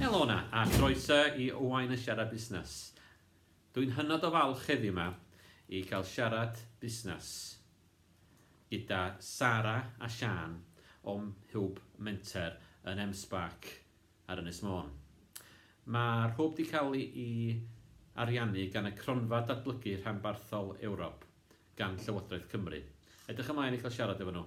Helo na, a groeso i Owain y Siarad Busnes. Dwi'n hynod o falch heddiw yma i cael siarad busnes gyda Sara a Sian o'm Hwb Menter yn M-Spark ar Ynys Môn. Mae'r hwb wedi cael ei ariannu gan y Cronfa Datblygu Rhanbarthol Ewrop gan Llywodraeth Cymru. Edrych ymlaen i cael siarad efo nhw.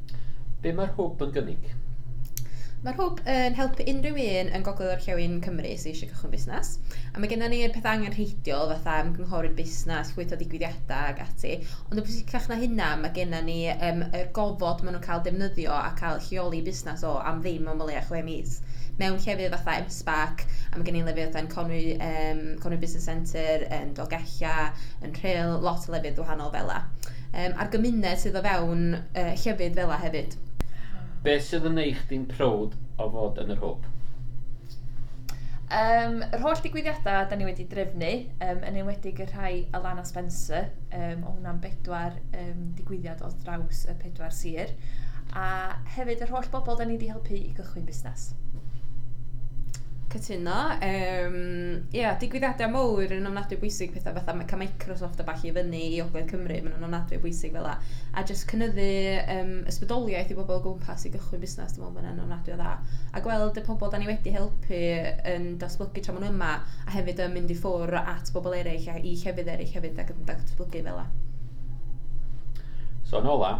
Be mae'r hwb yn gynnig? Mae'r hwb yn helpu unrhyw un yn Gogledd Orllewin Cymru sydd eisiau cychwyn busnes. A mae gennym ni'r pethau angenrheidiol fatha ymgynghori'r busnes, llwytho digwyddiadau ac ati. Ond yn bwysicach na hynna, mae gennym ni um, yr gofod maen nhw'n cael defnyddio a cael lleoli busnes o am ddim ond o leia chwe mis. Mewn llefydd fatha MSPAC, a mae gen i lefydd fatha'n Conwy, um, Conwy Business Centre, yn Dolgella, yn Rhyl, lot o lefydd wahanol fel la. um, a'r gymuned sydd o fewn uh, llefydd fel yna hefyd. Beth sydd yn eich di'n prowd o fod yn yr hwb? Um, yr holl digwyddiadau da ni wedi drefnu, um, yn enwedig y rhai Alana Spencer, um, o hwnna'n bedwar um, digwyddiad o draws y pedwar sir, a hefyd yr holl bobl da ni wedi helpu i gychwyn busnes. Cytun. yno. Yym, ia, digwyddiadau mawr yn ofnadwy o bwysig, petha fatha ma' cael Microsoft a ballu i fyny i Ogledd Cymru, maen nhw'n ofnadwy o bwysig fela. A jyst cynyddu yym ysbrydoliaeth i bobl o gwmpas i gychwyn busnes, dwi'n meddwl bod hynna'n ofnadwy o dda. A gweld y pobl dan ni wedi helpu yn datblygu tra maen nhw yma, a hefyd yn mynd i ffwrdd at bobl eraill a'i llefydd eraill hefyd ac yn datblygu fela. So yn ola,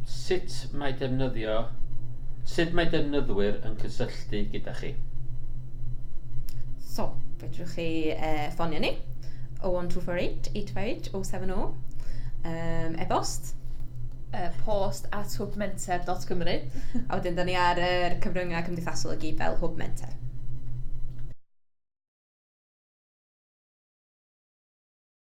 Sut mae defnyddio... Sut mae defnyddwyr yn cysylltu gyda chi? So, fedrwch chi yy ffonio ni, 01248 858 070, yym e-bost, yy post at hwbmenter dot cymru, a wedyn dan ni ar yr cyfryngau cymdeithasol i gyd fel Hwb Menter.